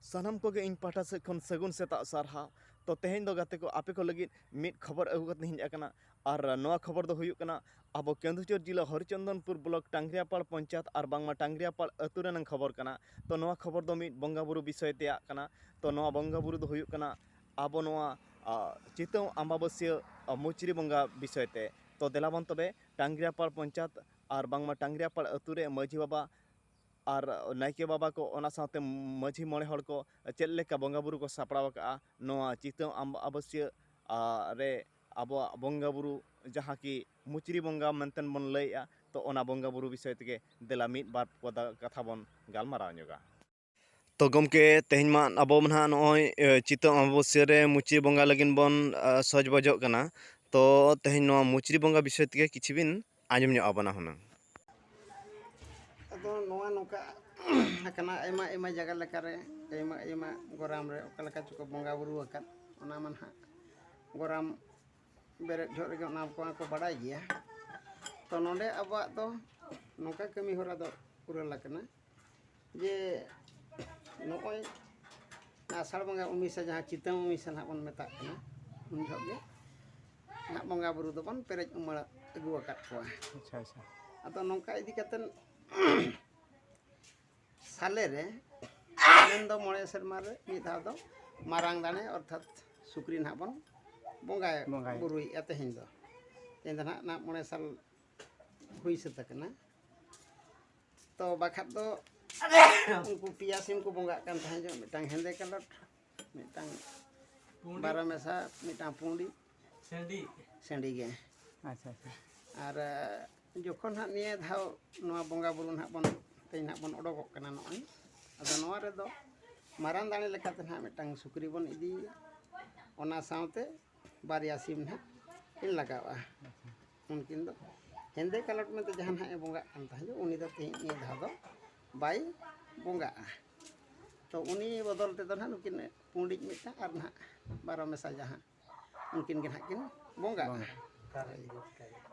ᱥᱟᱱᱟᱢ ᱠᱚᱜᱮ ᱤᱧ ᱯᱟᱦᱴᱟ ᱥᱮᱫ ᱠᱷᱚᱱ ᱥᱟᱹᱜᱩᱱ ᱥᱮᱛᱟᱜ ᱥᱟᱨᱦᱟᱣ ᱛᱚ ᱛᱮᱦᱮᱧ ᱫᱚ ᱜᱟᱛᱮ ᱠᱚ ᱟᱯᱮ ᱠᱚ ᱞᱟᱹᱜᱤᱫ ᱢᱤᱫ ᱠᱷᱚᱵᱚᱨ ᱟᱹᱜᱩ ᱠᱟᱛᱮ ᱦᱮᱡ ᱟᱠᱟᱱᱟ ᱟᱨ ᱱᱚᱣᱟ ᱠᱷᱚᱵᱚᱨ ᱫᱚ ᱦᱩᱭᱩᱜ ᱠᱟᱱᱟ ᱟᱵᱚ ᱠᱮᱸᱫᱩᱡᱷᱚᱨ ᱡᱮᱞᱟ ᱦᱚᱨᱤᱪᱚᱱᱫᱚᱱᱯᱩᱨ ᱵᱞᱚᱠ ᱴᱟᱝᱜᱽᱨᱤᱭᱟᱯᱟᱲ ᱯᱚᱧᱪᱟᱭᱮᱛ ᱟᱨ ᱵᱟᱝᱢᱟ ᱴᱟᱝᱜᱽᱨᱤᱭᱟᱯᱟᱲ ᱟᱹᱛᱩ ᱨᱮᱱᱟᱜ ᱠᱷᱚᱵᱚᱨ ᱠᱟᱱᱟ ᱛᱚ ᱱᱚᱣᱟ ᱠᱷᱚᱵᱚᱨ ᱫᱚ ᱢᱤᱫ ᱵᱚᱸᱜᱟ ᱵᱩᱨᱩ ᱵᱤᱥᱚᱭ ᱛᱮᱭᱟᱜ ᱠᱟᱱᱟ ᱛᱚ ᱱᱚᱣᱟ ᱵᱚᱸᱜᱟ ᱵᱩᱨᱩ ᱫᱚ ᱦᱩᱭᱩᱜ ᱠᱟᱱᱟ ᱟᱵᱚ ᱱᱚᱣᱟ ᱪᱤᱛᱟᱹᱣ ᱟᱢᱵᱟᱵᱟᱹᱥᱭᱟᱹ ᱢᱩᱪᱨᱤ ᱵᱚᱸᱜᱟ ᱵᱤᱥᱚᱭ ᱛᱮ ᱛᱚ ᱫᱮᱞᱟ ᱵᱚᱱ ᱛᱚᱵᱮ ᱴᱟᱝᱜᱽᱨᱤᱭᱟᱯᱟᱲ ᱯᱚᱧᱪᱟᱭᱮᱛ ᱟᱨ ᱵᱟᱝᱢᱟ ᱴᱟᱝᱜᱽᱨᱤᱭᱟᱯᱟᱲ ᱟᱹᱛᱩ ᱨᱮ ᱢᱟᱹᱡᱷᱤ ᱵᱟᱵᱟ ᱟᱨ ᱱᱟᱭᱠᱮ ᱵᱟᱵᱟ ᱠᱚ ᱚᱱᱟ ᱥᱟᱶᱛᱮ ᱢᱟᱺᱡᱷᱤ ᱢᱚᱬᱮ ᱦᱚᱲ ᱠᱚ ᱪᱮᱫ ᱞᱮᱠᱟ ᱵᱚᱸᱜᱟ ᱵᱳᱨᱳ ᱠᱚ ᱥᱟᱯᱲᱟᱣ ᱟᱠᱟᱫᱼᱟ ᱱᱚᱣᱟ ᱪᱤᱛᱟᱹᱢ ᱟᱢᱵᱟᱵᱟᱹᱥᱭᱟᱹ ᱨᱮ ᱟᱵᱚᱣᱟᱜ ᱵᱚᱸᱜᱟ ᱵᱳᱨᱳ ᱡᱟᱦᱟᱸ ᱠᱤ ᱢᱩᱪᱨᱤ ᱵᱚᱸᱜᱟ ᱢᱮᱱᱛᱮ ᱵᱚᱱ ᱞᱟᱹᱭᱮᱫᱼᱟ ᱛᱚ ᱚᱱᱟ ᱵᱚᱸᱜᱟ ᱵᱳᱨᱳ ᱵᱤᱥᱚᱭ ᱛᱮᱜᱮ ᱫᱮᱞᱟ ᱢᱤᱫ ᱵᱟᱨ ᱯᱚᱫ ᱠᱟᱛᱷᱟ ᱵᱚᱱ ᱜᱟᱞᱢᱟᱨᱟᱣ ᱧᱚᱜᱟ ᱛᱚ ᱜᱚᱢᱠᱮ ᱛᱮᱦᱮᱧ ᱢᱟ ᱟᱵᱚ ᱢᱟ ᱱᱟᱦᱟᱜ ᱱᱚᱜᱼᱚᱭ ᱪᱤᱛᱟᱹᱢ ᱟᱢᱵᱟᱵᱟᱹᱥᱭᱟᱹ ᱨᱮ ᱢᱩᱪᱨᱤ ᱵᱚᱸᱜᱟ ᱞᱟᱹᱜᱤᱫ ᱵᱚᱱ ᱥᱚᱡᱽ ᱵᱚᱡᱚᱜ ᱠᱟᱱᱟ ᱛᱚ ᱛᱮᱦᱮᱧ ᱱᱚᱣᱟ ᱢᱩᱪᱨᱤ ᱵᱚᱸᱜᱟ ᱵᱤᱥᱚᱭ ᱛᱮᱜᱮ ᱠᱤᱪᱷᱩ ᱵᱤᱱ ᱟᱸᱡᱚᱢ ᱧᱚᱜ ᱟᱵᱚᱱᱟ ᱦᱩᱱᱟᱹᱝ ᱟᱫᱚ ᱱᱚᱣᱟ ᱱᱚᱝᱠᱟ ᱟᱠᱟᱱᱟ ᱟᱭᱢᱟ ᱟᱭᱢᱟ ᱡᱟᱭᱜᱟ ᱞᱮᱠᱟᱨᱮ ᱟᱭᱢᱟ ᱟᱭᱢᱟ ᱜᱚᱨᱟᱢ ᱨᱮ ᱚᱠᱟ ᱞᱮᱠᱟ ᱪᱚᱠᱚ ᱵᱚᱸᱜᱟ ᱵᱩᱨᱩ ᱟᱠᱟᱫ ᱚᱱᱟ ᱢᱟ ᱱᱟᱦᱟᱜ ᱜᱚᱨᱟᱢ ᱵᱮᱨᱮᱫ ᱡᱚᱦᱚᱜ ᱨᱮᱜᱮ ᱚᱱᱟ ᱠᱚ ᱠᱚ ᱵᱟᱰᱟᱭ ᱜᱮᱭᱟ ᱛᱚ ᱱᱚᱰᱮ ᱟᱵᱚᱣᱟᱜ ᱫᱚ ᱱᱚᱝᱠᱟ ᱠᱟᱹᱢᱤ ᱦᱚᱨᱟ ᱫᱚ ᱯᱩᱨᱟᱹᱣ ᱟᱠᱟᱱᱟ ᱡᱮ ᱱᱚᱜᱼᱚᱭ ᱟᱥᱟᱲ ᱵᱚᱸᱜᱟ ᱩᱢᱤᱥᱟ ᱡᱟᱦᱟᱸ ᱪᱤᱛᱟᱹ ᱩᱢᱤᱥᱟ ᱱᱟᱦᱟᱜ ᱵᱚᱱ ᱢᱮᱛᱟᱜ ᱠᱟᱱᱟ ᱩᱱ ᱡᱚᱦᱚᱜ ᱜᱮ ᱱᱟᱦᱟᱜ ᱵᱚᱸᱜᱟ ᱵᱩᱨᱩ ᱫᱚᱵᱚᱱ ᱯᱮᱨᱮᱡ ᱩᱢᱟᱹᱲ ᱟᱹᱜᱩ ᱟᱠᱟᱫ ᱠᱚᱣᱟ ᱟᱪᱪᱷᱟ ᱟᱪᱪᱷᱟ ᱟᱫᱚ ᱱᱚᱝᱠᱟ ᱤᱫᱤ ᱠᱟᱛᱮᱫ ᱥᱟᱞᱮ ᱨᱮ ᱢᱮᱱᱫᱚ ᱢᱚᱬᱮ ᱥᱮᱨᱢᱟ ᱨᱮ ᱢᱤᱫ ᱫᱷᱟᱣ ᱫᱚ ᱢᱟᱨᱟᱝ ᱫᱟᱲᱮ ᱚᱨᱛᱷᱟᱛ ᱥᱩᱠᱨᱤ ᱱᱟᱦᱟᱜ ᱵᱚᱱ ᱵᱚᱸᱜᱟᱭ ᱵᱚᱸᱜᱟᱭ᱾ ᱵᱩᱨᱩᱭᱮᱫᱼᱟ ᱛᱮᱦᱮᱧ ᱫᱚ ᱛᱮᱦᱮᱧ ᱫᱚ ᱱᱟᱦᱟᱜ ᱱᱟᱦᱟᱜ ᱢᱚᱬᱮ ᱥᱟᱞ ᱦᱩᱭ ᱥᱟᱹᱛ ᱟᱠᱟᱱᱟ ᱛᱚ ᱵᱟᱠᱷᱟᱡ ᱫᱚ ᱩᱱᱠᱩ ᱯᱮᱭᱟ ᱥᱤᱢ ᱠᱚ ᱵᱚᱸᱜᱟᱜ ᱠᱟᱱ ᱛᱟᱦᱮᱸ ᱡᱚᱜ ᱢᱤᱫᱴᱟᱝ ᱦᱮᱸᱫᱮ ᱠᱟᱞᱚᱴ ᱢᱤᱫᱴᱟᱝ ᱵᱟᱨᱚ ᱢᱮᱥᱟ ᱢᱤᱫᱴᱟᱝ ᱯᱩᱸᱰᱤ ᱥᱮᱸᱰᱤ ᱥᱮᱸᱰᱤ ᱜᱮ ᱟᱪᱪᱷᱟ ᱟᱪᱪᱷᱟ ᱟᱨ ᱡᱚᱠᱷᱚᱱ ᱦᱟᱸᱜ ᱱᱤᱭᱟᱹ ᱫᱷᱟᱣ ᱱᱚᱣᱟ ᱵᱚᱸᱜᱟ ᱵᱩᱨᱩ ᱱᱟᱦᱟᱜ ᱵᱚᱱ ᱛᱮᱦᱮᱧ ᱱᱟᱦᱟᱜ ᱵᱚᱱ ᱚᱰᱚᱠᱚᱜ ᱠᱟᱱᱟ ᱱᱚᱜᱼᱚᱭ ᱟᱫᱚ ᱱᱚᱣᱟ ᱨᱮᱫᱚ ᱢᱟᱨᱟᱝ ᱫᱟᱲᱮ ᱞᱮᱠᱟᱛᱮ ᱱᱟᱦᱟᱜ ᱢᱤᱫᱴᱟᱝ ᱥᱩᱠᱨᱤ ᱵᱚᱱ ᱤᱫᱤᱭᱮᱭᱟ ᱚᱱᱟ ᱥᱟᱶᱛᱮ ᱵᱟᱨᱭᱟ ᱥᱤᱢ ᱦᱟᱸᱜ ᱠᱤᱱ ᱞᱟᱜᱟᱜᱼᱟ ᱩᱱᱠᱤᱱ ᱫᱚ ᱦᱮᱸᱫᱮ ᱠᱟᱞᱚᱴ ᱢᱮᱱᱛᱮ ᱡᱟᱦᱟᱸ ᱦᱟᱸᱜ ᱮ ᱵᱚᱸᱜᱟᱜ ᱠᱟᱱ ᱛᱟᱦᱮᱸᱫ ᱩᱱᱤ ᱫᱚ ᱛᱮᱦᱮᱧ ᱱᱤᱭᱟᱹ ᱫᱷᱟᱣ ᱫᱚ ᱵᱟᱭ ᱵᱚᱸᱜᱟᱜᱼᱟ ᱛᱚ ᱩᱱᱤ ᱵᱚᱫᱚᱞ ᱛᱮᱫᱚ ᱱᱟᱦᱟᱜ ᱱᱩᱠᱤᱱ ᱯᱩᱸᱰᱤᱡ ᱢᱤᱫᱴᱟᱝ ᱟᱨ ᱱᱟᱦᱟᱜ ᱵᱟᱨᱚ ᱢᱮᱥᱟ ᱡᱟᱦᱟᱸ ᱩᱱᱠᱤᱱ ᱜᱮ ᱱᱟᱦᱟᱜ ᱠᱤᱱ ᱵᱚᱸᱜᱟᱜᱼᱟ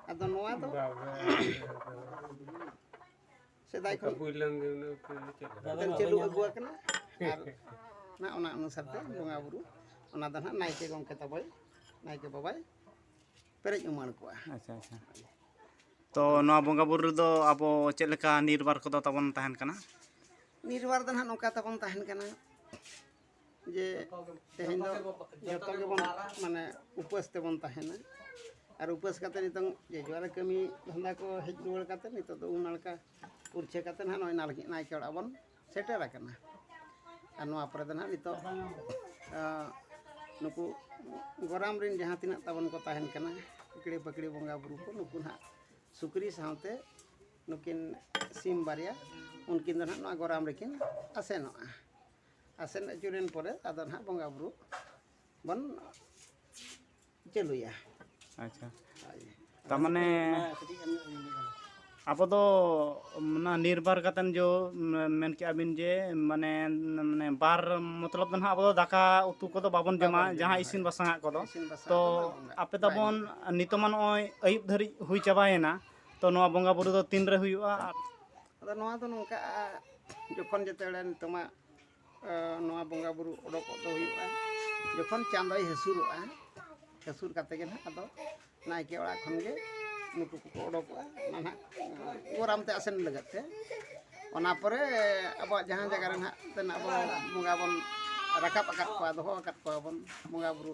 ᱟᱫᱚ ᱱᱚᱣᱟ ᱫᱚ ᱥᱮᱫᱟᱭ ᱠᱷᱚᱱ ᱪᱟᱹᱞᱩ ᱟᱹᱜᱩ ᱟᱠᱟᱱᱟ ᱟᱨ ᱱᱟ ᱚᱱᱟ ᱚᱱᱩᱥᱟᱨ ᱛᱮ ᱵᱚᱸᱜᱟ ᱵᱩᱨᱩ ᱚᱱᱟ ᱫᱚ ᱱᱟᱦᱟᱜ ᱱᱟᱭᱠᱮ ᱜᱚᱢᱠᱮ ᱛᱟᱵᱚᱭ ᱱᱟᱭᱠᱮ ᱵᱟᱵᱟᱭ ᱯᱮᱨᱮᱡ ᱩᱢᱟᱹᱲ ᱠᱚᱣᱟ ᱟᱪᱪᱷᱟ ᱟᱪᱪᱷᱟ ᱛᱚ ᱱᱚᱣᱟ ᱵᱚᱸᱜᱟ ᱵᱩᱨᱩ ᱨᱮᱫᱚ ᱟᱵᱚ ᱪᱮᱫ ᱞᱮᱠᱟ ᱱᱤᱨᱵᱟᱨ ᱠᱚᱫᱚ ᱛᱟᱵᱚᱱ ᱛᱟᱦᱮᱱ ᱠᱟᱱᱟ ᱱᱤᱨᱵᱟᱨ ᱫᱚ ᱱᱟᱦᱟᱜ ᱱᱚᱝᱠᱟ ᱛᱟᱵᱚᱱ ᱛᱟᱦᱮᱱ ᱠᱟᱱᱟ ᱡᱮ ᱛᱮᱦᱮᱧ ᱫᱚ ᱡᱚᱛᱚ ᱜᱮᱵᱚᱱ ᱢᱟᱱᱮ ᱩᱯᱟᱹᱥ ᱛᱮᱵᱚᱱ ᱛᱟᱦᱮᱱᱟ ᱟᱨ ᱩᱯᱟᱹᱥ ᱠᱟᱛᱮ ᱱᱤᱛᱚᱝ ᱡᱮ ᱡᱚᱣᱟᱨᱮ ᱠᱟᱹᱢᱤ ᱫᱷᱟᱱᱫᱟ ᱠᱚ ᱦᱮᱡ ᱨᱩᱣᱟᱹᱲ ᱠᱟᱛᱮ ᱱᱤᱛᱚᱜ ᱫᱚ ᱩᱢ ᱱᱟᱲᱠᱟ ᱯᱩᱨᱪᱷᱟᱹ ᱠᱟᱛᱮ ᱱᱟᱦᱟᱜ ᱱᱚᱜᱼᱚᱭ ᱱᱟᱲᱠᱟ ᱱᱟᱭᱠᱮ ᱚᱲᱟᱜ ᱵᱚᱱ ᱥᱮᱴᱮᱨ ᱟᱠᱟᱱᱟ ᱟᱨ ᱱᱚᱣᱟ ᱯᱚᱨᱮ ᱫᱚ ᱱᱟᱦᱟᱜ ᱱᱤᱛᱚᱜ ᱱᱩᱠᱩ ᱜᱚᱨᱟᱢ ᱨᱮᱱ ᱡᱟᱦᱟᱸ ᱛᱤᱱᱟᱹᱜ ᱛᱟᱵᱚᱱ ᱠᱚ ᱛᱟᱦᱮᱱ ᱠᱟᱱᱟ ᱯᱤᱠᱲᱤ ᱯᱟᱠᱲᱤ ᱵᱚᱸᱜᱟ ᱵᱩᱨᱩ ᱠᱚ ᱱᱩᱠᱩ ᱱᱟᱦᱟᱜ ᱥᱩᱠᱨᱤ ᱥᱟᱶᱛᱮ ᱱᱩᱠᱤᱱ ᱥᱤᱢ ᱵᱟᱨᱭᱟ ᱩᱱᱠᱤᱱ ᱫᱚ ᱱᱟᱦᱟᱜ ᱱᱚᱣᱟ ᱜᱚᱨᱟᱢ ᱨᱮᱠᱤᱱ ᱟᱥᱮᱱᱚᱜᱼᱟ ᱟᱥᱮᱱ ᱟᱹᱪᱩᱨᱮᱱ ᱯᱚᱨᱮ ᱟᱫᱚ ᱱᱟᱦᱟᱜ ᱵᱚᱸᱜᱟ ᱵᱩᱨᱩ ᱵᱚᱱ ᱪᱟᱹᱞᱩᱭᱟ ᱟᱪᱪᱷᱟ ᱛᱟᱨᱢᱟᱱᱮ ᱟᱵᱚ ᱫᱚ ᱚᱱᱟ ᱱᱤᱨᱵᱟᱨ ᱠᱟᱛᱮᱱ ᱡᱚ ᱢᱮᱱ ᱠᱮᱜᱼᱟ ᱵᱤᱱ ᱡᱮ ᱢᱟᱱᱮ ᱢᱟᱱᱮ ᱵᱟᱨ ᱢᱚᱛᱞᱚᱵ ᱫᱚ ᱱᱟᱦᱟᱜ ᱟᱵᱚ ᱫᱚ ᱫᱟᱠᱟ ᱩᱛᱩ ᱠᱚᱫᱚ ᱵᱟᱵᱚᱱ ᱡᱚᱢᱟ ᱡᱟᱦᱟᱸ ᱤᱥᱤᱱ ᱵᱟᱥᱟᱝᱟᱜ ᱠᱚᱫᱚ ᱛᱚ ᱟᱯᱮ ᱫᱚᱵᱚᱱ ᱱᱤᱛᱚᱜ ᱢᱟ ᱱᱚᱜᱼᱚᱭ ᱟᱹᱭᱩᱵ ᱫᱷᱟᱹᱨᱤᱡ ᱦᱩᱭ ᱪᱟᱵᱟᱭᱮᱱᱟ ᱛᱚ ᱱᱚᱣᱟ ᱵᱚᱸᱜᱟ ᱵᱩᱨᱩ ᱫᱚ ᱛᱤᱱᱨᱮ ᱦᱩᱭᱩᱜᱼᱟ ᱟᱫᱚ ᱱᱚᱣᱟ ᱫᱚ ᱱᱚᱝᱠᱟ ᱡᱚᱠᱷᱚᱱ ᱡᱮᱛᱮ ᱵᱮᱲᱟ ᱱᱤᱛᱚᱜ ᱢᱟ ᱱᱚᱣᱟ ᱵᱚᱸᱜᱟ ᱵᱩᱨᱩ ᱚᱰᱚᱠᱚᱜ ᱫᱚ ᱦᱩᱭᱩᱜᱼᱟ ᱡᱚᱠᱷᱚᱱ ᱪᱟᱸᱫᱚᱭ ᱦᱟᱹᱥᱩᱨᱚᱜᱼᱟ ᱦᱟᱹᱥᱩᱨ ᱠᱟᱛᱮ ᱜᱮ ᱱᱟᱦᱟᱜ ᱟᱫᱚ ᱱᱟᱭᱠᱮ ᱚᱲᱟᱜ ᱠᱷᱚᱱ ᱜᱮ ᱱᱩᱠᱩ ᱠᱚᱠᱚ ᱚᱰᱚᱠᱚᱜᱼᱟ ᱚᱱᱟ ᱱᱟᱦᱟᱜ ᱜᱚᱨᱟᱢ ᱛᱮ ᱟᱥᱮᱱ ᱞᱟᱹᱜᱤᱫ ᱛᱮ ᱚᱱᱟ ᱯᱚᱨᱮ ᱟᱵᱚᱣᱟᱜ ᱡᱟᱦᱟᱸ ᱡᱟᱭᱜᱟ ᱨᱮ ᱱᱟᱦᱟᱜ ᱛᱮᱱᱟᱜ ᱵᱚᱱ ᱵᱚᱸᱜᱟ ᱵᱚᱱ ᱨᱟᱠᱟᱵ ᱟᱠᱟᱫ ᱠᱚᱣᱟ ᱫᱚᱦᱚ ᱟᱠᱟᱫ ᱠᱚᱣᱟ ᱵᱚᱱ ᱵᱚᱸᱜᱟ ᱵᱩᱨᱩ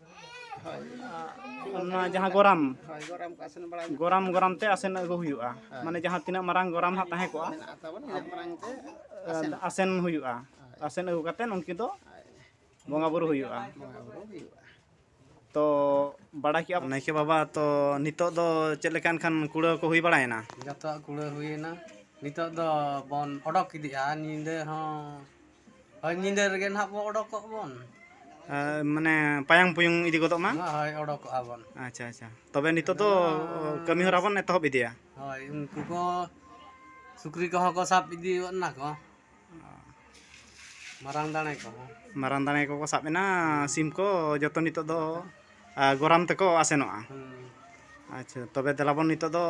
ᱚᱱᱟ ᱡᱟᱦᱟᱸ ᱜᱚᱨᱟᱢ ᱜᱚᱨᱟᱢ ᱜᱚᱨᱟᱢ ᱛᱮ ᱟᱥᱮᱱ ᱟᱹᱜᱩ ᱦᱩᱭᱩᱜᱼᱟ ᱢᱟᱱᱮ ᱡᱟᱦᱟᱸ ᱛᱤᱱᱟᱹᱜ ᱢᱟᱨᱟᱝ ᱜᱚᱨᱟᱢ ᱦᱟᱸᱜ ᱛᱟᱦᱮᱸ ᱠᱚᱜᱼᱟ ᱟᱥᱮᱱ ᱦᱩᱭᱩᱜᱼᱟ ᱟᱥᱮᱱ ᱟᱹᱜᱩ ᱠᱟᱛᱮᱫ ᱩᱱᱠᱤᱱ ᱫᱚ ᱵᱚᱸᱜᱟ ᱵᱩᱨᱩ ᱦᱩᱭᱩᱜᱼᱟ ᱛᱚ ᱵᱟᱲᱟᱭ ᱠᱮᱜᱼᱟ ᱱᱟᱭᱠᱮ ᱵᱟᱵᱟ ᱛᱚ ᱱᱤᱛᱚᱜ ᱫᱚ ᱪᱮᱫ ᱞᱮᱠᱟ ᱮᱱᱠᱷᱟᱱ ᱠᱩᱲᱟᱹᱣ ᱠᱚ ᱦᱩᱭ ᱵᱟᱲᱟᱭᱮᱱᱟ ᱡᱚᱛᱚᱣᱟᱜ ᱠᱩᱲᱟᱹᱣ ᱦᱩᱭᱮᱱᱟ ᱱᱤᱛᱚᱜ ᱫᱚ ᱵᱚᱱ ᱚᱰᱚᱠ ᱤᱫᱤᱜᱼᱟ ᱧᱤᱫᱟᱹ ᱦᱚᱸ ᱦᱳᱭ ᱧᱤᱫᱟᱹ ᱨᱮᱜᱮ ᱱᱟᱦᱟᱜ ᱵᱚ ᱚᱰᱚᱠᱚᱜ ᱵᱚᱱ ᱟᱨ ᱢᱟᱱᱮ ᱯᱟᱭᱟᱝ ᱯᱩᱭᱩᱝ ᱤᱫᱤ ᱜᱚᱫᱚᱜ ᱢᱟ ᱦᱳᱭ ᱚᱰᱚᱠᱚᱜᱼᱟ ᱵᱚᱱ ᱟᱪᱪᱷᱟ ᱟᱪᱪᱷᱟ ᱛᱚᱵᱮ ᱱᱤᱛᱚᱜ ᱫᱚ ᱠᱟᱹᱢᱤ ᱦᱚᱨᱟ ᱵᱚᱱ ᱮᱛᱚᱦᱚᱵ ᱤᱫᱤᱭᱟ ᱦᱳᱭ ᱩᱱᱠᱩ ᱠᱚ ᱥᱩᱠᱨᱤ ᱠᱚᱦᱚᱸ ᱠᱚ ᱥᱟᱵ ᱤᱫᱤ ᱜᱚᱫ ᱮᱱᱟ ᱠᱚ ᱢᱟᱨᱟᱝ ᱫᱟᱲᱮ ᱠᱚᱦᱚᱸ ᱢᱟᱨᱟᱝ ᱫᱟᱲᱮ ᱠᱚᱠᱚ ᱥᱟᱵ ᱮᱱᱟ ᱥᱤᱢ ᱠᱚ ᱡᱚᱛᱚ ᱱᱤᱛᱚᱜ ᱫᱚ ᱟ, ᱜᱚᱨᱟᱢ ᱛᱮᱠᱚ ᱟᱥᱮᱱᱚᱜᱼᱟ ᱦᱩᱸ, ᱟᱪᱪᱷᱟ ᱛᱚᱵᱮ ᱫᱮᱞᱟ ᱵᱚᱱ ᱱᱤᱛᱚᱜ ᱫᱚ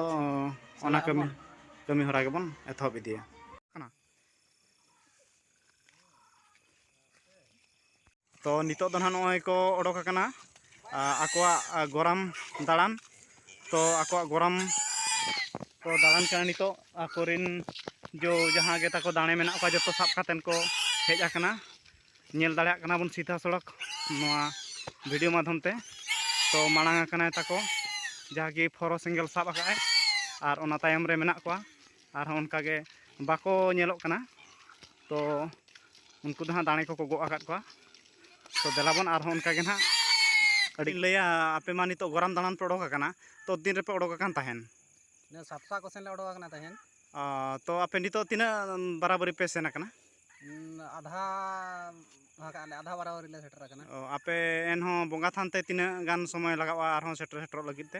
ᱚᱱᱟ ᱠᱟᱹᱢᱤ ᱠᱟᱹᱢᱤ ᱦᱚᱨᱟ ᱜᱮᱵᱚᱱ ᱮᱛᱚᱦᱚᱵ ᱤᱫᱤᱭᱟ ᱛᱚ ᱱᱤᱛᱚᱜ ᱫᱚ ᱱᱟᱦᱟᱜ ᱱᱚᱜᱼᱚᱭ ᱠᱚ ᱚᱰᱚᱠ ᱟᱠᱟᱱᱟ ᱟᱠᱚᱣᱟᱜ ᱜᱚᱨᱟᱢ ᱫᱟᱬᱟᱱ ᱛᱚ ᱟᱠᱚᱣᱟᱜ ᱜᱚᱨᱟᱢ ᱠᱚ ᱫᱟᱬᱟᱱ ᱠᱟᱱᱟ ᱱᱤᱛᱚᱜ ᱟᱠᱚᱨᱮᱱ ᱡᱚ ᱡᱟᱦᱟᱸ ᱜᱮ ᱛᱟᱠᱚ ᱫᱟᱲᱮ ᱢᱮᱱᱟᱜ ᱠᱚᱣᱟ ᱡᱚᱛᱚ ᱥᱟᱵ ᱠᱟᱛᱮᱫ ᱠᱚ ᱦᱮᱡ ᱟᱠᱟᱱᱟ ᱧᱮᱞ ᱫᱟᱲᱮᱭᱟᱜ ᱠᱟᱱᱟ ᱵᱚᱱ ᱥᱤᱫᱷᱟ ᱥᱚᱲᱚᱠ ᱱᱚᱣᱟ ᱵᱷᱤᱰᱤᱭᱳ ᱢᱟᱫᱽᱫᱷᱚᱢ ᱛᱮ ᱛᱚ ᱢᱟᱲᱟᱝ ᱟᱠᱟᱱᱟᱭ ᱛᱟᱠᱚ ᱡᱟᱦᱟᱸ ᱜᱮ ᱯᱷᱚᱨᱚ ᱥᱮᱸᱜᱮᱞ ᱥᱟᱵ ᱟᱠᱟᱫ ᱟᱭ ᱟᱨ ᱚᱱᱟ ᱛᱟᱭᱚᱢ ᱨᱮ ᱢᱮᱱᱟᱜ ᱠᱚᱣᱟ ᱟᱨᱦᱚᱸ ᱚᱱᱠᱟᱜᱮ ᱵᱟᱠᱚ ᱧᱮᱞᱚᱜ ᱠᱟᱱᱟ ᱛᱚ ᱩᱱᱠᱩ ᱫᱚ ᱦᱟᱸᱜ ᱫᱟᱲᱮ ᱠᱚᱠᱚ ᱜᱚᱜ ᱟᱠᱟᱫ ᱠᱚᱣᱟ ᱛᱚ ᱫᱮᱞᱟᱵᱚᱱ ᱟᱨᱦᱚᱸ ᱚᱱᱠᱟᱜᱮ ᱦᱟᱸᱜ ᱟᱹᱰᱤ ᱞᱟᱹᱭᱟ ᱟᱯᱮ ᱢᱟ ᱱᱤᱛᱚᱜ ᱜᱚᱨᱟᱢ ᱫᱟᱬᱟᱱ ᱯᱮ ᱚᱰᱚᱠ ᱟᱠᱟᱱᱟ ᱛᱚ ᱛᱤᱱ ᱨᱮᱯᱮ ᱚᱰᱚᱠ ᱟᱠᱟᱱ ᱛᱟᱦᱮᱱ ᱥᱟᱯᱥᱟ ᱠᱚ ᱥᱮᱱ ᱞᱮ ᱚᱰᱚᱠ ᱟᱠᱟᱱᱟ ᱛᱟᱦᱮᱱ ᱛᱚ ᱟᱯᱮ ᱱᱤᱛᱚᱜ ᱛᱤᱱᱟᱹᱜ ᱵᱟᱨᱟᱵᱟᱹᱨᱤ ᱯᱮ ᱥᱮᱱ ᱟᱠᱟᱱᱟ ᱟᱫᱷᱟ ᱟᱫᱷᱟ ᱵᱟᱨᱟᱵᱟᱹᱨᱤ ᱞᱮ ᱥᱮᱴᱮᱨ ᱟᱠᱟᱱᱟ ᱟᱯᱮ ᱮᱱᱦᱚᱸ ᱵᱚᱸᱜᱟ ᱛᱷᱟᱱ ᱛᱮ ᱛᱤᱱᱟᱹᱜ ᱜᱟᱱ ᱥᱚᱢᱚᱭ ᱞᱟᱜᱟᱜᱼᱟ ᱟᱨᱦᱚᱸ ᱥᱮᱴᱮᱨ ᱥᱮᱴᱮᱨᱚᱜ ᱞᱟᱹᱜᱤᱫ ᱛᱮ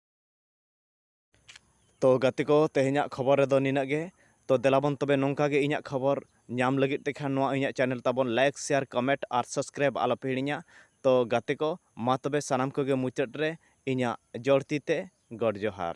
ᱛᱚ ᱜᱟᱛᱮ ᱠᱚ ᱛᱮᱦᱮᱧᱟᱜ ᱠᱷᱚᱵᱚᱨ ᱨᱮᱫᱚ ᱱᱤᱱᱟᱹᱜ ᱜᱮ ᱛᱚ ᱫᱮᱞᱟᱵᱚᱱ ᱛᱚᱵᱮ ᱱᱚᱝᱠᱟ ᱜᱮ ᱤᱧᱟᱹᱜ ᱠᱷᱚᱵᱚᱨ ᱧᱟᱢ ᱞᱟᱹᱜᱤᱫ ᱛᱮᱠᱷᱟᱱ ᱱᱚᱣᱟ ᱤᱧᱟᱹᱜ ᱪᱮᱱᱮᱞ ᱛᱟᱵᱚᱱ ᱞᱟᱭᱤᱠ ᱥᱮᱭᱟᱨ ᱠᱚᱢᱮᱱᱴ ᱟᱨ ᱥᱟᱵᱥᱠᱨᱟᱭᱤᱵ ᱟᱞᱚᱯᱮ ᱦᱤᱲᱤᱧᱟ ᱛᱚ ᱜᱟᱛᱮ ᱠᱚ ᱢᱟ ᱛᱚᱵᱮ ᱥᱟᱱᱟᱢ ᱠᱚᱜᱮ ᱢᱩᱪᱟᱹᱫ ᱨᱮ ᱤᱧᱟᱹᱜ ᱡᱚᱲ ᱛᱤ ᱛᱮ ᱜᱚᱰ ᱡᱚᱦᱟᱨ